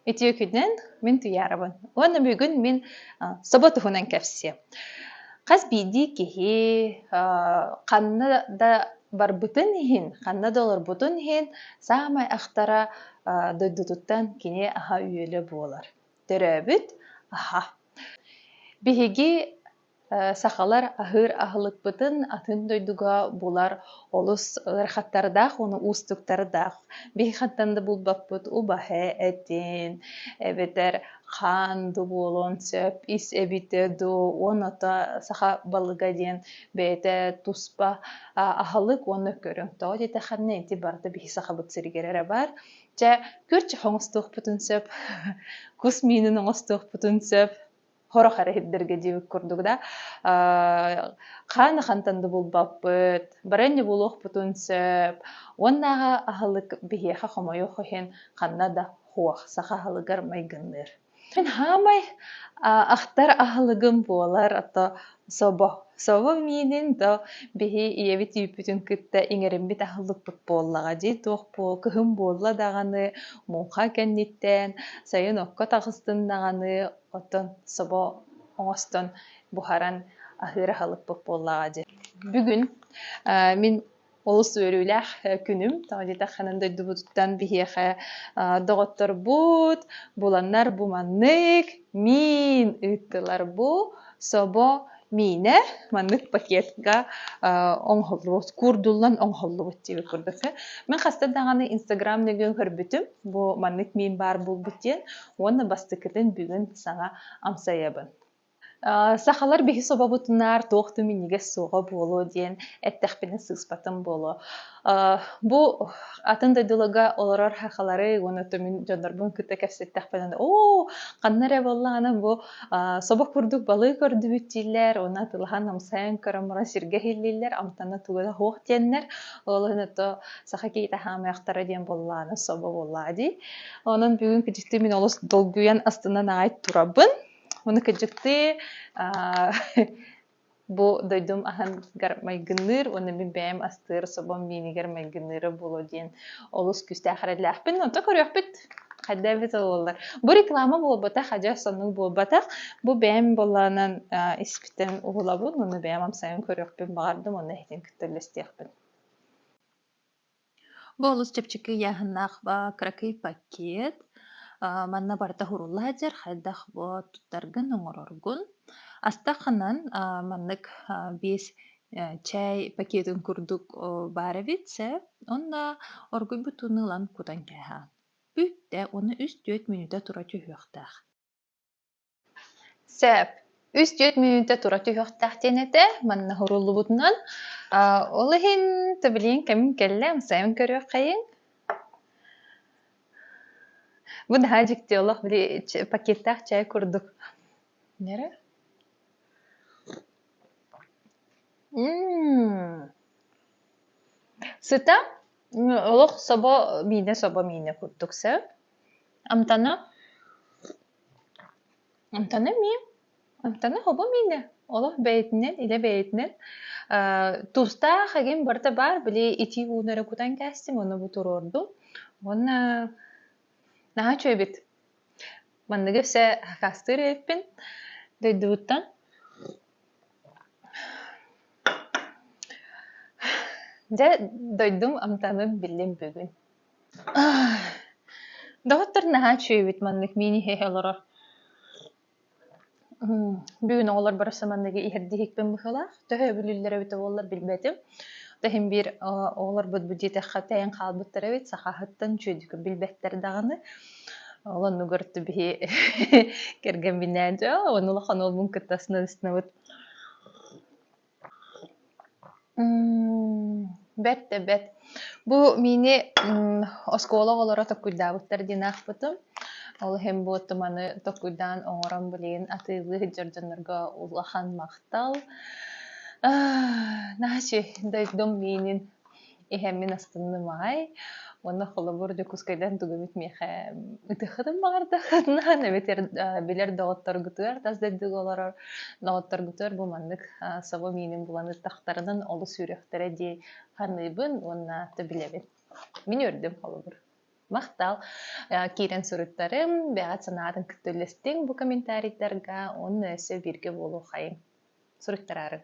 Үтүөкүнэн мин Туйаарабын. Уонна бүгүн мин собо туһунан кэпсиэм. Хас биирдии киһи ханна да барбытын иһин, ханна да олорбутун иһин саамай ахтара дойдутуттан кини аһа-үөлэ буолар. Төрөөбүт аһа. Биһиги сахалар аһыыр аһылыкпытын атын дойдуга булар олус ыарахаттардаах уну уустуктардаах. Биһихаттан да булбаппыт убаһы, этин, эбэтэр хаан да буолуон сөп, ис эбитэ до, онота саха балыга диэн бэйэтэ туспа аһылык уонна көрүҥ тоҕо диэтэххинэ ити барыта биһи сахабыт сиригэр эрэ баар чэ көрчө оҥостуохпутун сөп кус миинин оҥостуохпутун сөп хорох эрэ иһирдэргэ диэбит курдук да хаана хантан да булбаппыт баранньа булуохпутун сөп уоннааҕы аһылык биһиэхэ хомойуох иһин ханна да хуох саха аһылыгар майгынныыр Мин хаамай ахтар аһылыгым буолар а то собо. Собо миинин до биһи ийэбит үүппүтүн кытта иҥэриммит аһылыкпыт буоллаҕа дии. Туох буол кыһын буолла даҕаны муҥха кэнниттээн сайын окко таҕыстын даҕаны оттон собо оҥостон буһаран аһыыр аһылыкпыт буоллаҕа дии. Бүгүн мин олус үөрүүлээх күнүм тоҕо диэтэххинэ дойдубутуттан биһиэхэ доҕотторбут буланнар бу маннык миин ыыттылар бу собо миинэ маннык пакетка оҥоһуллубут куурдуллан оҥоһуллубут диэбит курдук мин хаста даҕаны инстаграм нөҥүөн көрбүтүм бу маннык миин баар буолбут диэн уонна бастакытын бүгүн саҥа амсайабын Сахалар биһи собобутунаар туох да минньигэс суоҕа буолуо диэн эттэхпинэ сыыспатым буолуо. Бу атын дойдуларга олорор сахалары уонна мин дьоннорбун кытта кэпсэттэхпинэ оо ханна эрэ буоллаҕына бу собох курдук балыы көрдүбүт дииллэр уонна атылахан намсайан көрөн баран сиргэ иһиллииллэр амтанна туга да суох диэннэр ол ото саха киһитэ хаамыахтара диэн буоллаҕына собо буоллаа дии онон бүгүн кыдьыкты мин олус долгуйан астынан аҕай турабын Оны кыдьыктыы бу дойдум аһыныгар майгынныыр уонна мин бэйэм астыыр собом миинигэр майгынныыра буолуо диэн олус күүстээх эрэллээхпин. Онто көрүөхпүт хайда эбит боллар. Бу реклама буолбатах, адьас сонук буолбатах. Бу бэйэм болланан испитин уһулабын, уну бэйэм амсайын көрүөхпүн баҕардым, уонна иһитин кытта үллэстиэхпин. Бу олус чэпчэки ыйааһыннаах ба кыракый пакет. Аа, манна барыта уһурулла сылдьар, хайдах бу туттаргын, оҥороргун. Астаханан, аа, маннык, аа, биэс, э, чай пакетын курдук, о, баар эбит сэп. Онно оргуйбут ууну ылан кутан кээһээн. Бүтtä уонна үс-түөрт мүнүүтэ тура түһүөхтээх. Сөп. Үс-түөрт мүнүүтэ тура түһүөхтээх диэн этэ. Манна суруллубутунан, аа, ол иһин то билигин кэмим кэллэ, амсайын көрүөххэйиҥ. Бу наһаа дьикти олох били ч- пакеттаах чай курдук. Эрэ. М. Сыта м, олох собо миинэ собо миинэ курдук сөп. Амтана Амтана эмиэ. Амтана хобу миинэ. Олох бэйэтинэн, илэ бэйэтинэн. Э, тустаах эҥин барыта баар, били итии ууну эрэ кутан кээстим, ону бу туруордум. Уонна наһаа үчүгэйбит. Манныгы өссө акаастыыр эбиппин дойдубуттан. Дьэ, дойдум амтанын биллим бүгүн. Доҕоттор наһаа үчүгэйбит маннык мини иһэ олорор. Бүгүн оҕолор барахсан манныгы иһэрдии иһикпин быһыылаах. Төһө өбүлүүллэрэ эбитэ буоллар билбэтим. Иһин биир оҕолорбут бу диэтэххэ тэйэн хаалбыттар эбит, сахаһыттан үчүгэйдик билбэттэр даҕаны. Ол оннугар биһи кэргэмбинээн онно улахан уолбун кытта снабыт Бэрт да бэрт. Бу миини оскуола оҕолоро токкуйдаабыттар диэн аахпытым. Ол иһин бу туманы токкуйдаан оҥорон билигин атыылыы сылдьар дьоннорго улахан махтал. Наһаа үчүгэй дойдум миинин иһэммин астынным аай уонна холобур дьокуускайдан тугубут миэхэ ытыаххытын баҕардаххытына эбэтэр билэр доҕотторгутугар тас дойдуга олорор доҕотторгутугар бу маннык собо миинин булан ытахтарынан олус сүрүөхтэрэ дии саныыбын уонна то билэбин мин үөрдүм холобур махтал киирэн суруттарым бэҕэт санаатын кытта үллэстиҥ бу комментарийдарга уонна өссө бииргэ буолуоххайыҥ суруттараарыҥ